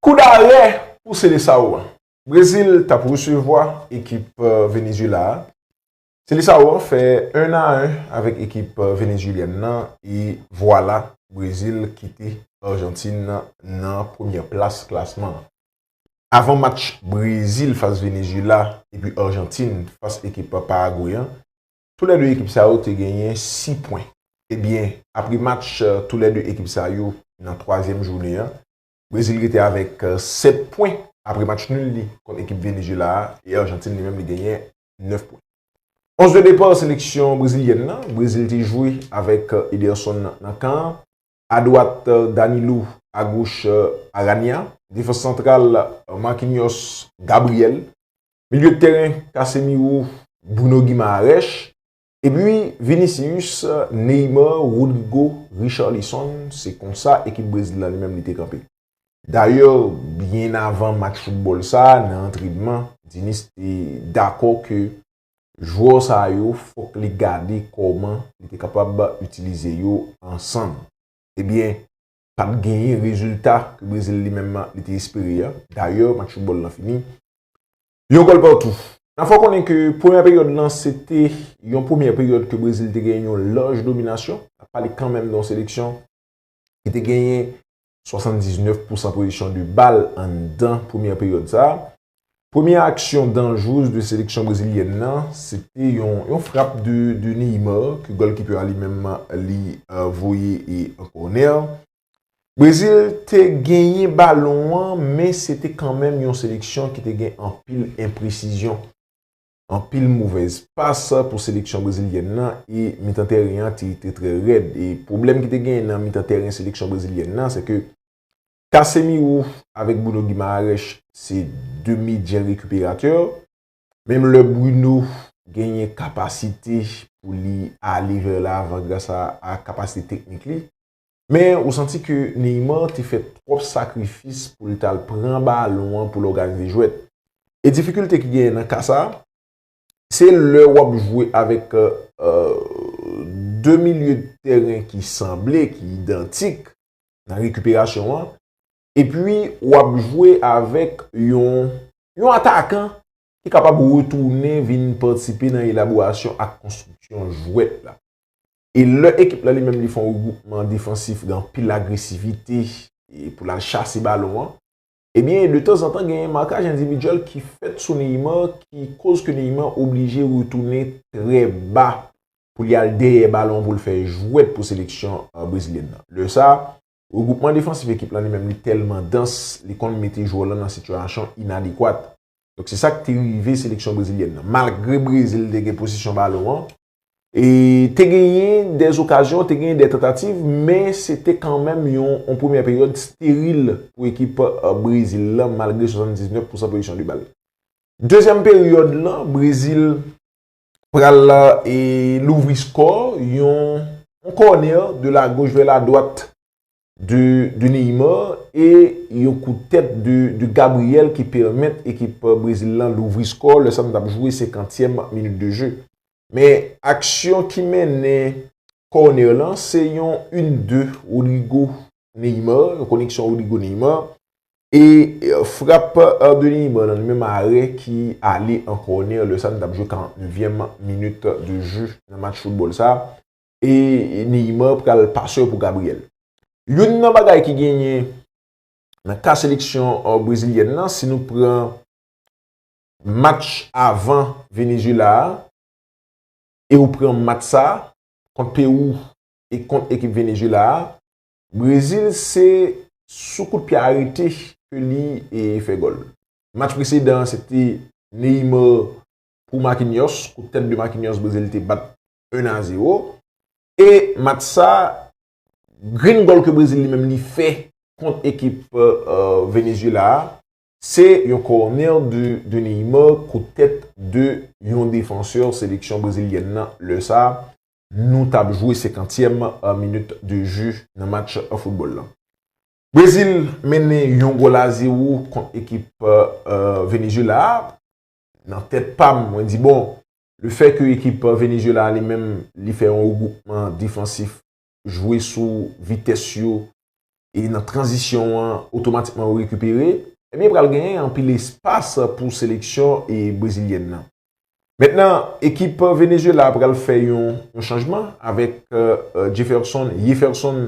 Koudarè pou Seleçao a. Brezil t ap resevwa ekip Venezyela a. Seleçao an fè 1 a 1 avèk ekip Venezyelyèn nan e vwala Brezil kite Arjantin nan premyè plas klasman an. Avan match Brezil fas Venezyela epi Arjantin fas ekip Paragwe an, tou lè 2 ekip sa yo te genyen 6 pwen. Ebyen apre match tou lè 2 ekip sa yo nan twazyèm jounen an, Brezil rete avèk 7 pwen apre match nul li kont ekip Venezyela a e Arjantin li menm li genyen 9 pwen. Onz de depa seleksyon brezilyèn nan, Brezil te jwe avèk Ederson nan kan an, adwat Danilo, agoch Aranya, defans santral Marquinhos, Gabriel, milye tèren Casemiro, Bruno Guimaraes, Epi Vinicius, Neymar, Rodrygo, Richarlison, se konsa ekip Brezil la li menm li te kanpe. Dayè, byen avan match foutbòl sa, nan antrenman, Diniz te dakò ke jwè sa yo fòk li gade kòman li te kapab itilize yo ansanm. Ebyen, pa t genyen rezilta ke Brezil li menm li te espere a. Dayè, match foutbòl lan fini yon gòl patou. Nan fè w konnen ke premyè peryòd lan se te yon premyè peryòd ke Brezil te genyen yon laj dominasyon. N ap pale kanmenm de yon seleksyon ki te genyen 79 pousan pozisyon de bal anndan premyè peryòd sa a. Premye aksyon danjwez de seleksyon brezilyèn nan se te yon frap de Neymar ke gòlkipè a li menm li voye an kònè. Brezil te genyen balon an men se te kanmenm yon seleksyon ki te gen anpil enpresizyon. Anpil movèz pas pou seleksyon brezilyèn nan e mitan tèren an te trè rèd. E pwoblèm ki te genyen nan mitan tèren seleksyon brezilyèn nan se ke Casemiro avèk Bruno Guimaraes se 2 medyen rekiperatè, menm lè Bruno genyen kapasite pou li ale vè lavan gras a kapasite teknik li, men ou santi ke Neymar te fè twòp sakrifis pou l t al pran balon an pou l òganize jwèt. E difikilte ki genyen nan ka sa, Se lè w ap jwe avèk 2 milye tèren ki sanble, ki idantik nan rekiperasyon an, epi w ap jwe avèk yon atakan ki kapab retounen vin patisipe nan elaborasyon ak konstriksyon jwèt la. E lè ekip la li menm li fè yon regwoupman defansif gen anpil agresivite pou l al chase balon an, Ebyen, de tanzantan genyen makaj endividyèl ki fèt sou Neymar ki koz ke Neymar oblije retounen trè ba pou li al dèyè balon pou l fè jwèt pou seleksyon brezilyèn nan. Lè sa, regwoupman defansif ekip lan li menm li tèlman dans, li konn mete jwè w lan nan sitiyasyon inadekwat. Donk se sa k te rive seleksyon brezilyèn nan. Malgre Brezil te gen posesyon balon an, Te genyen dè okazyon, te genyen dè tantativ, men se te kanmenm yon premyè peryòd steril pou ekip Brezil lan malgre 79 pousan pozisyon de bal. Dezyèm peryòd lan, Brezil pral louvri skò, yon kònè de lagoch vè ladwat de Neymar e yon kout tèt de Gabriel ki pèmèt ekip Brezil lan louvri skò lè sa nou tap jwe senkantyèm minit de je. Men aksyon ki mennen kònè lan se yon in de Rodrygo Neymar, yon koneksyon Rodrygo Neymar e frap de Neymar lan nan menm arè ki ale an kònè lè sa nou tap jwe 49 vyèm minit de je nan match foutbòl sa. e Neymar pral pasè pou Gabriel. Youn nan bagay ki genyen nan ka seleksyon brezilyèn nan si nou pran match avan Venezuela a e ou pran match sa kont Perou e kont ekip Venezuela a, Brezil se sou kout pye arete ke li fè gòl. Match presedan an se te Neymar pou Marquinhos, kout tèt de Marquinhos Brezil te bat 1 a 0 e match sa grenn gòl ke Brezil li menm li fè kont ekip Venezuela a se yon kònè de Neymar kout tèt de yon defansè seleksyon brezilyèn nan lè sa nou tap jwe 50 tièm minit de jeu nan match football lan. Brezil mennen yon gòl a 0 kont ekip Venezuela a. nan tèt pa m, mwen di bon, le fè ke ekip Venezuela a li menm li fè yon regwoupman defansif, jwe sou vitès yo e nan tranzisyon an otomatikman yo rekipere, ebyen pral genyen anpil espas pou seleksyon brezilyèn nan. Mentnan ekip Venezuela a pral fè yon chanjman avèk Jefferson, Yeferson,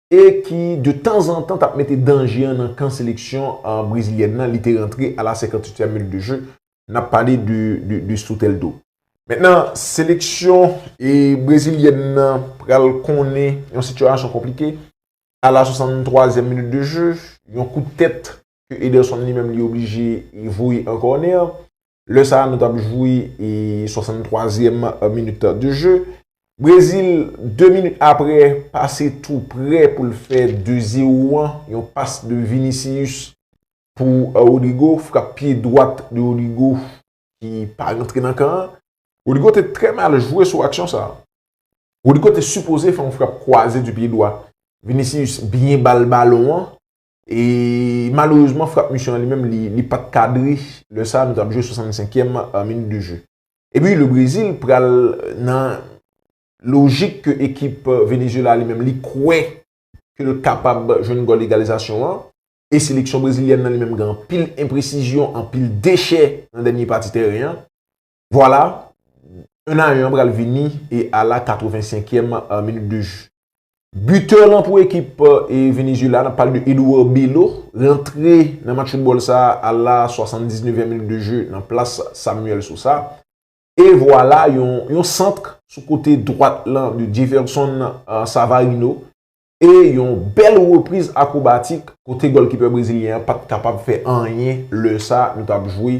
e ki de tanzantan t ap mete danje an nan kan seleksyon brezilyèn nan, li te rantre a la senkantuityèm minit de je, n ap pale de Soteldo. Mentnan seleksyon brezilyèn nan pral konnen yon sitiyasyon konplike a la sosannentwazyèm minit de je, yon kout tèt ke Ederson li menm li oblije voye an kònè. Lè sa a nou tap jwi 63 zièm minit de jeu. Brezil 2 minit apre pase tou prè pou l fè 2 zero an. Yon pas de Vinicius pou Rodrygo. Frap pye dwat de Rodrygo ki pa rantre nan kan an. Rodrygo te trè mal jwe sou aksyon sa a. Rodrygo te sipoze fè yon frap kwaze du pye dwa. Vinicius byen bal balon an. E malerezman frap misyon an li menm li pat kadre lè sa nou tap jwe 65 yèm minit de jeu. Epi le Brezil pral nan lojik ke ekip Venezuela li menm li kwè ke l kapab jwenn gòl egalizasyon an e seleksyon brezilyèn nan li menm gen anpil enpresizyon, anpil dechè nan dènye pati tèren an. Vwala, 1 a 1 an pral vini e ala 85 èm minit de jwe. Bitè lan pou ekip Venezuela, nap pale de Edouard Bello, rantre nan match foutbòl sa ala 79 èm minit de jwe nan plas Samuel Sosa. E vwala yon santr sou kote dwat lan de Jefferson Savarino e yon bèl repriz akrobatik kote gòlkipè brezilyen an pat kapab fè anyen lè sa nou tap jwe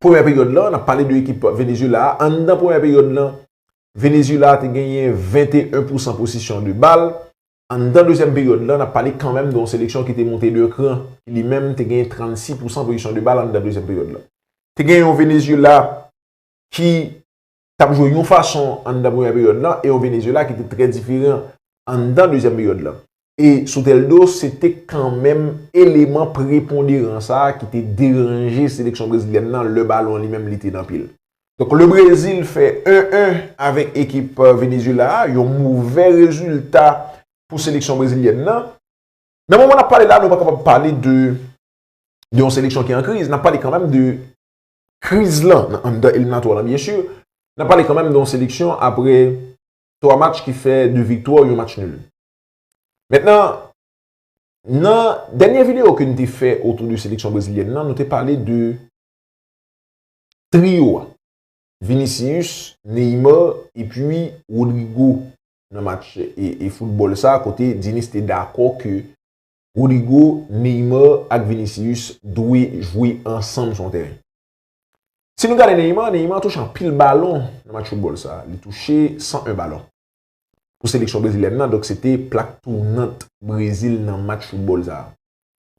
premyè peryòd lan, n ap pale de ekip Venezyela a, anndan premyè peryòd lan, Venezyela te genyen 21 pousan posisyon de bal, anndan dezyèm peryòd lan, n ap pale kanmenm de yon seleksyon ki te monte de kran, ki li menm te genyen 36 pousan posisyon de bal anndan dezyèm peryòd lan. Te genyen yon Venezyela ki t ap jwe yon fason anndan premyè peryòd lan e yon Venezyela ki te trè diferan anndan dezyèm peryòd lan. E Soteldo se te kanmenm eleman preponderan sa a ki te deranje seleksyon brezilyèn lan lè balon li menm li te nan pye l. Donk le Brezil fè 1 1 avèk ekip Venezyela a, yon movè rezilta pou seleksyon brezilyèn lan. Nan moman n ap pale la nou pa kapab pale de yon seleksyon ki an kriz, n ap pale kanmenm de Kriz lan nan anndan eliminatwa lan byen sur, n ap pale kanmenm de yon seleksyon apre 3 match ki fè 2 viktwa, yon match nul. Mentnan, nan dènye videyo ke n te fè otou de seleksyon brezilyèn lan, nou te pale de triyo a, Vinicius, Neymar epi Rodrygo nan match e foutbòl sa kote Diniz te dakò ke Rodrygo, Neymar ak Vinicius dwe jwe ansanm sou yon teren. Si nou gade Neymar, Neymar touche anpil balon nan match foutbòl sa. Li touche 101 balon pou seleksyon brezilyèn nan, donk se te plak tounant Brezil nan match foutbòl sa.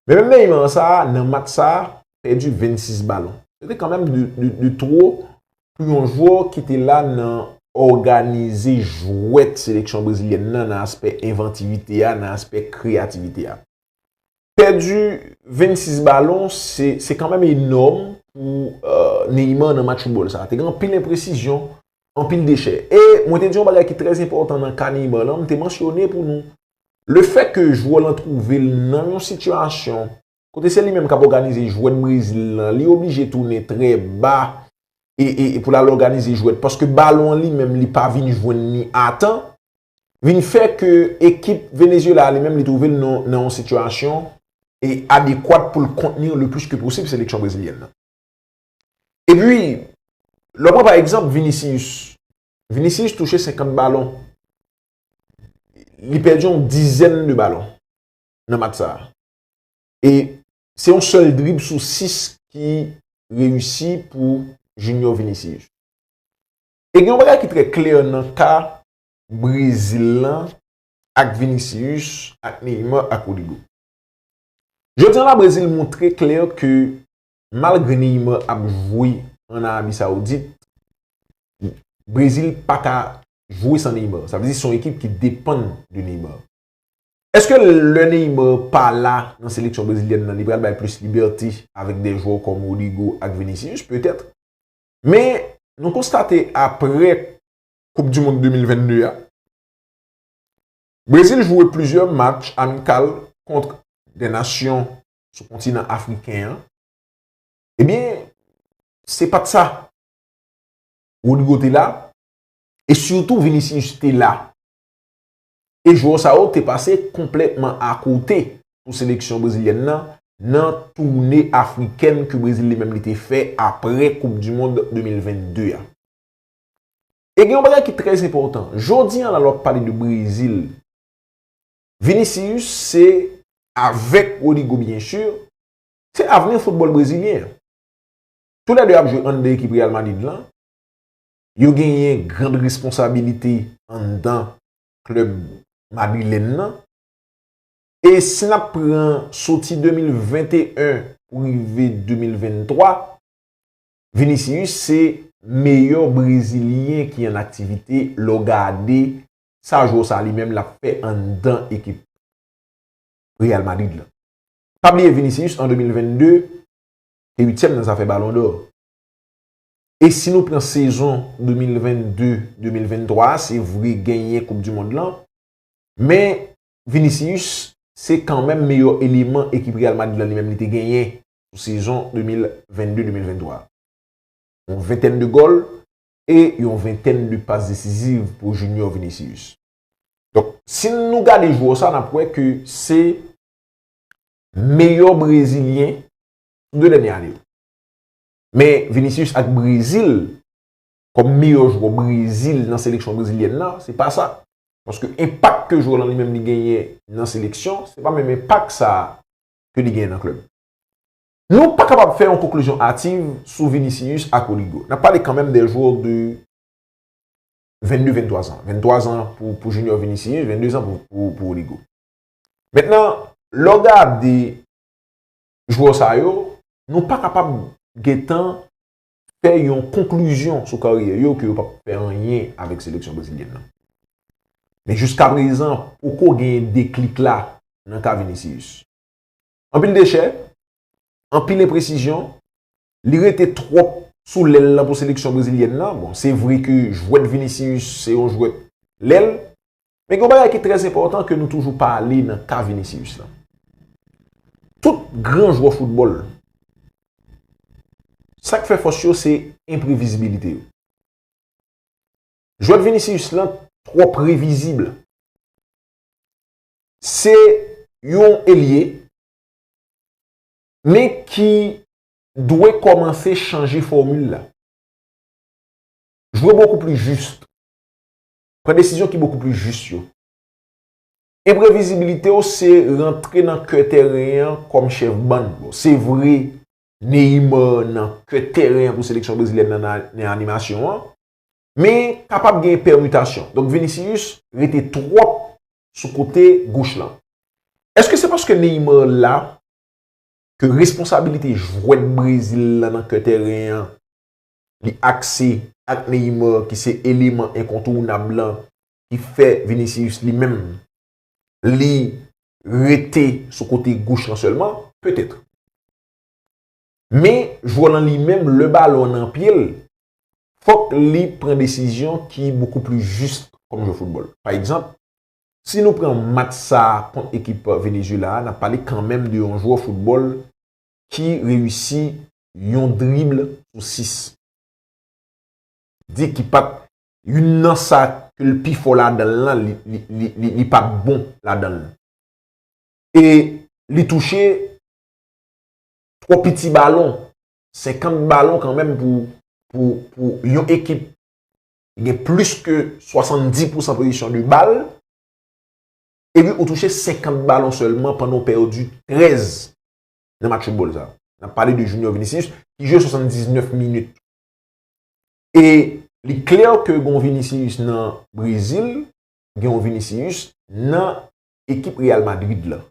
Men menm Neymar sa, nan match sa, pèdi 26 balon. Se te kanmenm de two pou yon jwè ki te la nan òganize jwèt seleksyon brezilyèn nan nan aspè envantivite a, nan aspè kreyativite a. Pèdi 26 balon, se kanmenm enòm pou Neymar nan match foutbòl sa. Te gen anpil enpresizyon, anpil dechè. E mwen te di yon bagay ki trè enpòtan nan ka Neymar lan, m te mansyone pou nou. Le fè ke jwè lan twouve l nan yon sitiyasyon Kote se li menm kap òganize jwèt Brezil lan, li oblije tounen trè ba pou l al òganize jwèt paske balon an li menm li pa vin jwenn ni a tan, vin fè ke ekip Venezyela a li menm li twouve l nan yon sitiyasyon e adekwat pou l kontni le plis ke posib seleksyon brezilyèn nan. E pi, lè w pran pa egzanp Vinicius, Vinicius touche 50 balon, li pèdi yon dizèn de balon nan match sa a. E se yon sèl drib sou 6 ki reyisi pou Junior Vinicius. E gen yon bagay ki trè klè nan ka Brezil lan ak Vinicius, ak Neymar, ak Rodrygo. Jodi an la Brezil montre klè ke malgre Neymar ap jwe an Arabi Saoudit, Brezil pa ka jwe san Neymar. Sa vle di se yon ekip ki depann de Neymar. Eske lè Neymar pa la nan seleksyon brezilyèn nan li pral bay plis libète avèk de jwè kòm Rodrygo ak Vinicius? Petèt. Men, nou konstate aprè koup di mond 2022 a, Brezil jwe plizyè match amikal kont de nasyon sou kontinan afriken an, ebyen se pat sa. Rodrygo te la e sitou Vinicius te la. e jwè sa yo te pase konplètman akote pou seleksyon brezilyèn nan nan toune afrikèn ke Brezil li menm li te fè apre koup du mond 2022 a. E gen yon bagay ki trè enpòtan, jodi an la lè w ap pale de Brezil, Vinicius se, avèk Rodrygo byen sur, se avni foutbòl brezilyen an. Tou lè 2 ap jwe anndan ekip Real Madrid lan, Yo genyen grand responsabilite anndan klèb madrilèn nan. E si n ap pran soti 2021 pou rive 2023, Vinicius se meyè brezilyen ki an aktivite lè w gade sa jwè sa li menm l ap fè anndan ekip Real Madrid lan. Pa bliye Vinicius an 2022 te uityèm nan zafè balon dò. E si nou pran sezon 2022, 2023 a, se vre genyen koup du mond lan, men Vinicius se kanmenm meyò eleman ekip Real Madrid lan li menm li te genyen sou sezon 2022, 2023 a. Yon ventèn de gòl e yon ventèn de pas desiziv pou Junior Vinicius. Donk si nou gade jwò sa nap wè ke se meyò brezilyen sou 2 dènye ane yo. Men Vinicius ak Brezil, kòm meyò jwò Brezil nan seleksyon brezilyèn nan, se pa sa. Paske enpak ke jwè lan li menm li genyen nan seleksyon, se pa menm enpak sa a ke li genyen nan klèb. Nou pa kapab fè yon konklizyon ativ sou Vinicius ak Rodrygo. Nap pale kan menm de jwò de 22, 23 zan. 23 zan pou Junior Vinicius, 22 zan pou Rodrygo. Mentnan, lè w gade jwè w sa yo, nou pa kapab gentan fè yon konklizyon sou karyè yo ke yo pap fè anyen avèk seleksyon brezilyèn nan. Men jiska prezan poko gen deklik la nan ka Vinicius. Anpil dechè, anpil enpresizyon, Li rete twòp sou lèl lan pou seleksyon brezilyèn lan. Bon, se vre ke jwèt Vinicius se yon jwèt lèl. Men gen yon bagay ki trè enpòtan ke nou toujou pale nan ka Vinicius lan. Tout gran jwè foutbòl, sa k fè fòs yo se enprevizibilite yo. Jwèt Vinicius lan twò previzib. Se yon elye. men ki dwe kòmanse chanje fòmil la. Jwe bokou pli jis. Pran desizyon ki bokou pli jis yo. Enprevizibilite w se rantre nan kè tèren an kòm chèf bann. Bon, se vre Neymar nan kè tèren an pou seleksyon brezilyèn nan nan animasyon an, men kapab gen pèmitasyon. Donk Vinicius rete twòp sou kote goch lan. Eske se paske Neymar la ke responsabilite jwèt Brezil la nan kè tèren an li akse ak Neymar ki se eleman enkontounab lan ki fè Vinicius li menm li rete sou kote goch lan sèlman, petèt. Men jwè lan li menm lè balon an nan pye l, fòk li pran desizyon ki bokou pli jis kòm jwè foutbòl. Pa egzanp, Si nou pran match sa a kont ekip Venezuela a, n ap pale kanmenm de yon jwè foutbòl ki reyisi yon drible sou 6. Di ki pa t youn nan sa ke l pi fò ladan l lan, li pa t bon ladan l. E li touche twò piti balon, 50 balon kanmenm pou yon ekip gen plis ke 70 pousan pozisyon de bal, epi ou touche 50 balon sèlman pandan ou pèdi 13 nan match foutbòl sa. N ap pale de Junior Vinicius ki jwe 79 minit. E li klè ke gen yon Vinicius nan Brezil, gen yon Vinicius nan ekip Real Madrid la.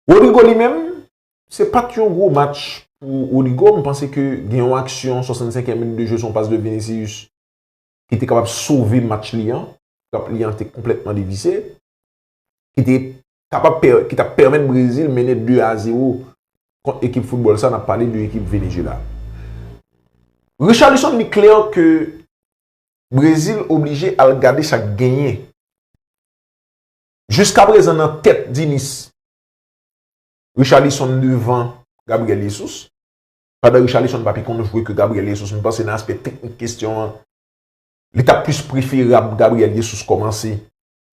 Rodrigo li menm, se pat yon gwo match pou Rodrigo, m panse ke gen yon aksyon 65 e minit de jwe son pas de Vinicius ki te kapab sove match li an, pap li an te konplètman devise, ki te kapab ki tap pèmèt Brezil mennen 2 a 0 kont ekip foutbòl sa, nap pale de ekip Venezuela. Richarlison li klè ke Brezil oblije al gade sak genyen. Jiska prezan nan tèt Dinis, Richarlison devan Gabriel Jesus. Pandan Richarlison pa pi konn jwe ke Gabriel Jesus, m panse nan aspè teknik kestyon an, li ta plis preferab Gabriel Jesus kòmanse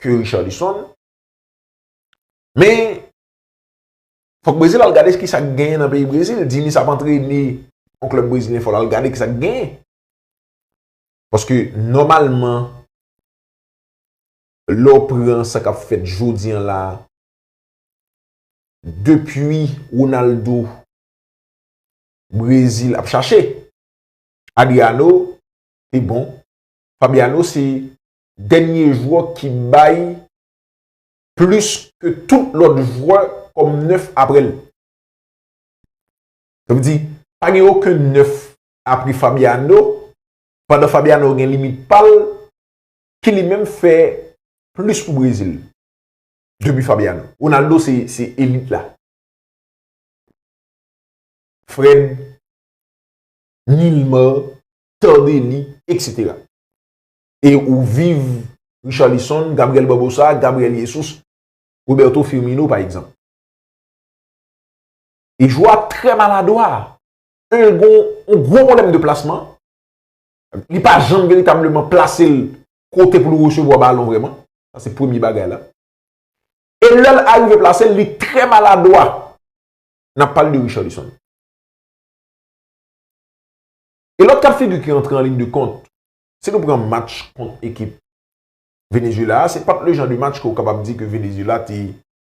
ke Richarlison. Men, fòk Brezil al gade ki sa k genyen nan peyi Brezil. Dinis ap antrene yon klèb brezilyen, fò l al gade ki sa k genyen. Paske, nòmalman, Lè w pran sa k ap fèt jodi an la, depi Ronaldo Brezil ap chache, Adriano te bon. Fabiano se dènye jwè ki bay plis ke tout lòt jwè kòm nèf apre l. Sa vle di, pa gen oken nèf apre Fabiano, pandan Fabiano gen limit pa l, ki li menm fè plis pou Brezil depi Fabiano. Ronaldo se elit la. Fred, Nilmar, Tardelli, etc. E ou viv Richarlison, Gabriel Barbosa, Gabriel Jesus, Roberto Firmino pa egzanp. E jwè a trè maladwa. 1 gon yon gwo pwoblèm de plasman. li pa janm veritableman plase l kote pou l resevwa balon vreman, sa se premye bagay la. E lè l arive plase l, li trè maladwa. N ap pale de Richarlison. E lòt ka figi ki antre an lin de kont, si nou pran match kont ekip Venezuela a, se pa t le jan de match ke ou kapab di ke Venezuela te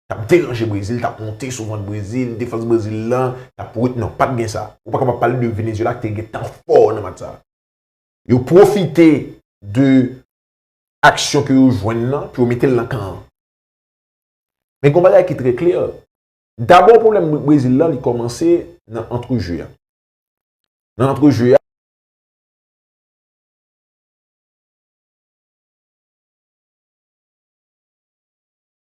t ap deranje Brezil, t ap monte sou vant Brezil, defans Brezil lan t ap wont, non pat gen sa. Ou pa kapab pale de Venezuela ki te gen tan fò nan match sa. Yo pwofite de aksyon ke yo jwenn lan pou yo mete l nan kan an. Men gon bagay ki trè klè, dabò pwoblèm Brezil lan li kòmanse nan antre je a. Nan antre je a.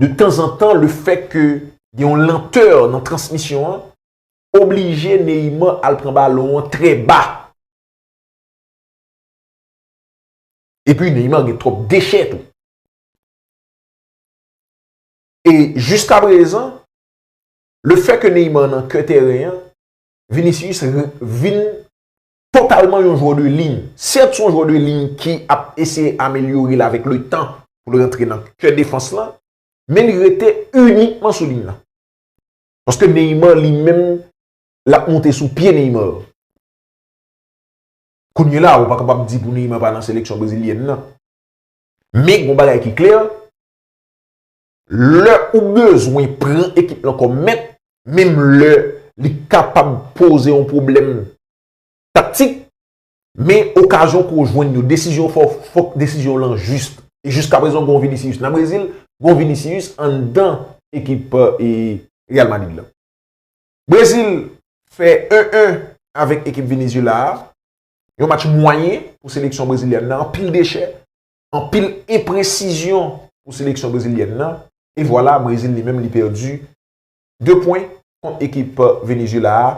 de tanzantan le fèt ke gen yon lantè nan transmisyon an, oblije Neymar al pran balon an trè ba. Epi Neymar gen twòp dechè tou. E jiska prezan, le fèt ke Neymar nan kè tèren an, Vinicius vin totalman yon jwè de liy. Sèt son jwè de liy ki ap eseye amelyore l avèk le tan pou l rantre nan kè defans lan, men li rete inikman sou liy lan. Paske Neymar li menm l ap monte sou pye Neymar. Kounye la ou pa kapab di pou Neymar pa nan seleksyon brezilyèn nan. Men gon bagay ki klè, Lè ou bezwen pran ekip lan kòm mèt, menm lè li kapab poze yon pwoblèm taktik, men okazyon ke w jwenn yo, desizyon w fè yo, fòk desizyon w lan jis. E jiskaprezan gen yon Vinicius nan Brezil, gen yon Vinicius anndan ekip Real Madrid lan. Brezil fè 1 - 1 avèk ekip Venezyela a, yon match mwayen pou seleksyon brezilyèn nan, anpil dechè, anpil enpresizyon pou seleksyon brezilyèn nan e vwala Brezil li menm li pèdi 2 pwen kont ekip Venezyela a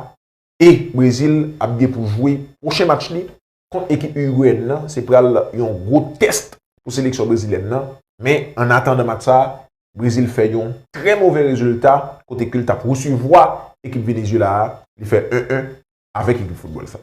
e Brezil ap gen pou jwe pwochen match li kont ekip Urigweyèn nan se pral yon gwo tèst pou seleksyon brezilyèn nan men an atandan match sa Brezil fè yon trè movè rezilta kote ke l tap resevwa ekip Venezyela a li fè 1 1 avèk ekip foutbòl sa.